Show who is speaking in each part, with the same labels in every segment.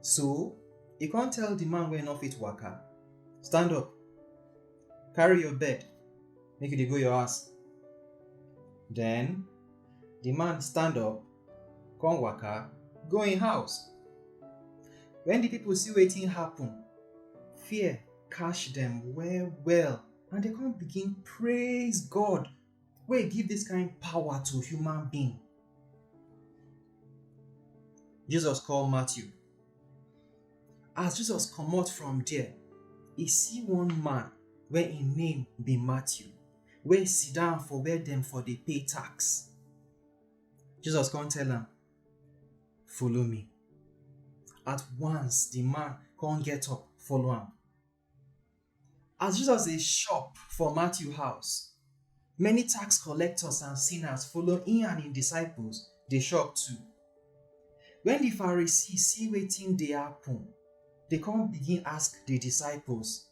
Speaker 1: So he can't tell the man where no fit waka. Stand up, carry your bed, make it go your ass. Then the man stand up, come waka, go in house. When the people see waiting happen, fear catch them well well and they can't begin praise God wey give dis kain power to human being. Jesus call Matthew. As Jesus comot from there, e see one man wey im name be Matthew wey sit down for where dem for dey pay tax. Jesus come tell am, Follow me. At once, di man come get up follow am. As Jesus dey shop for Matthew house, many tax collectors and sinners follow im and im disciples dey shop too. Wen di Pharisees see wetin dey happen, dem come begin ask di disciples,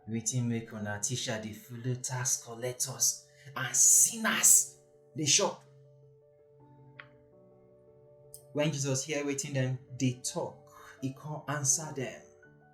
Speaker 1: Wetin make una teacher dey follow tax collectors and sinners dey shop? Wen Jesus hear wetin dem dey talk, e come answer dem.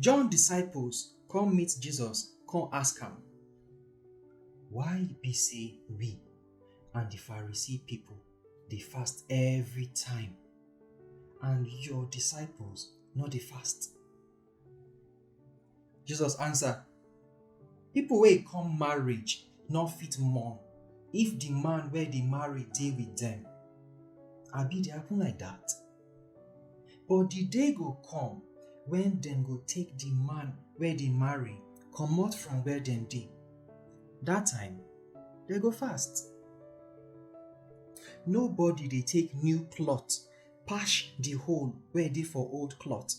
Speaker 1: John disciples come meet Jesus, come ask am, Why e be say we and the Pharisee people dey fast every time, and your disciples no dey fast? Jesus answer, Pipo wey come marriage no fit mourn if di man wey dey marry dey wit dem. Abi e dey happen like dat? But di day go come wen dem go take di man wey dey marry comot from where dem dey. Dat time, dem go fast. Nobody dey take new cloth patch di hole wey dey for old cloth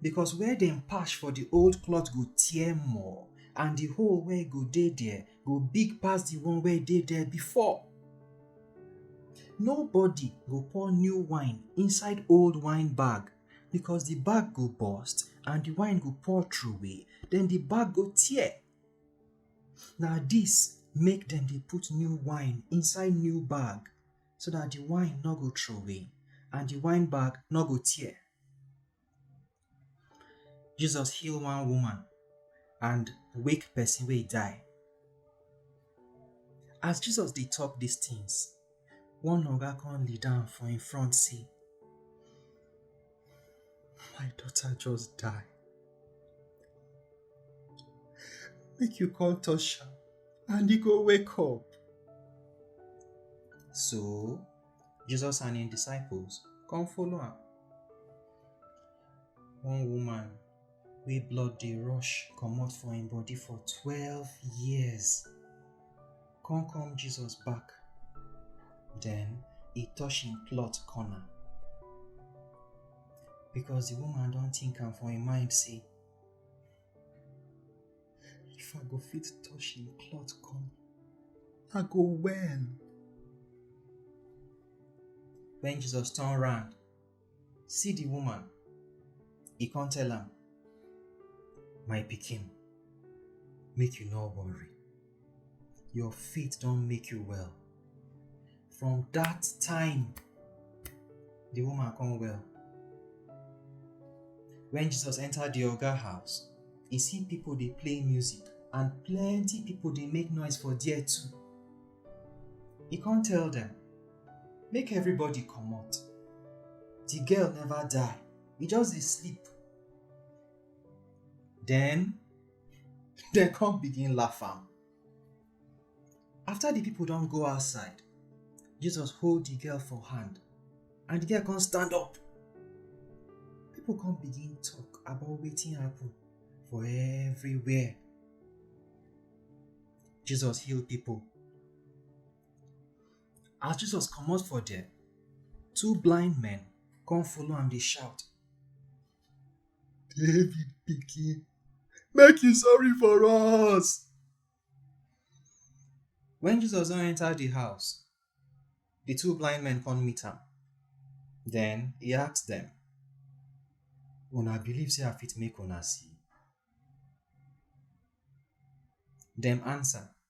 Speaker 1: because where dem patch for di old cloth go tear more and di hole wey go dey there go big pass di one wey dey there before. Nobody go pour new wine inside old wine bag because di bag go burst and di wine go pour through away den di bag go tear. Na dis make dem dey put new wine inside new bag. so that the wine no go throway and the wine bag no go tear. Jesus heal one woman and wake person wey die. As Jesus dey talk these things, one oga come lead am for im front say, My daughter just die. Make you call Tosha and he go wake up. So, Jesus and his disciples come follow am. One woman wey blood dey rush comot for im body for twelve years come come Jesus back then e touch im plot corner because the woman don think am for im mind say if I go fit touch im plot corner I go well when Jesus turn round see the woman e come tell am my pikin make you no worry your faith don make you well from that time the woman come well when jesus enter the oga house e see people dey play music and plenty people dey make noise for there too e come tell dem make everybody comot the girl never die e just dey sleep then dem come begin laugh am after the people don go outside jesus hold the girl for hand and the girl come stand up people come begin talk about wetin happen for everywhere jesus heal people As Jesus comot for there, two blind men come follow am dey shout. David pikin, make you sorry for us. When Jesus don enter the house, the two blind men come meet am. Then he ask them, Una believe say I fit make una see? Dem answer,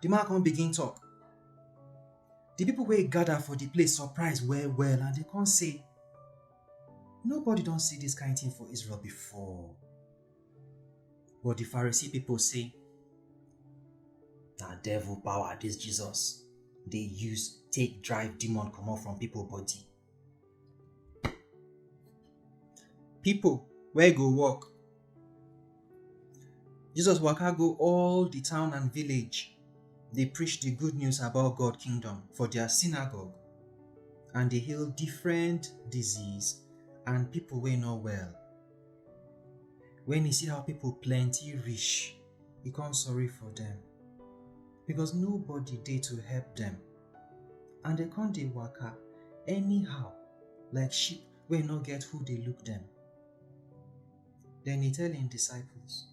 Speaker 1: Di man come begin tok. Di pipo wey gada for di place surprise well-well and dem come say, Nobody don see dis kain tin for Israel before. But di Pharisee pipo say, Na devil power dis Jesus dey use take drive demon comot from pipo body. pipo wey go work. Jesus waka go all di town and village dey preach di good news about God kingdom for dia synagogue and dey heal different disease and pipo wey no well. Wen e see how pipo plenty reach, e come sorry for dem because nobody dey to help dem. and dem come dey waka anyhow like sheep wey no get who dey look dem. Den e tell im disciples,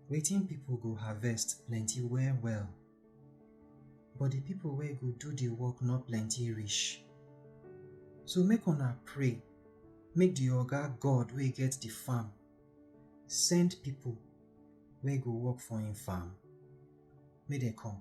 Speaker 1: Wetin pipo go harvest plenty well-well, but di pipo wey go do di work no plenty reach. So make una pray make di Oga God wey get di farm send pipo wey go work for im farm, make dem come.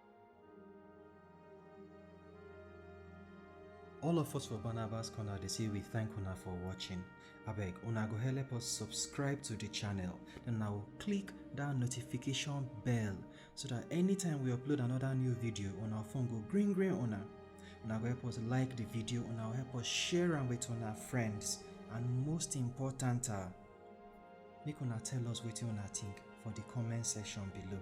Speaker 1: All of us for Barnabas Corner dey say we thank una for watching. Abeg, una go help us subscribe to the channel. Then na go click that notification bell so that anytime we upload another new video, una phone go green green una. Una go help us like the video, una go help us share am with una friends. And most important, ah, make una tell us wetin una think for the comment section below.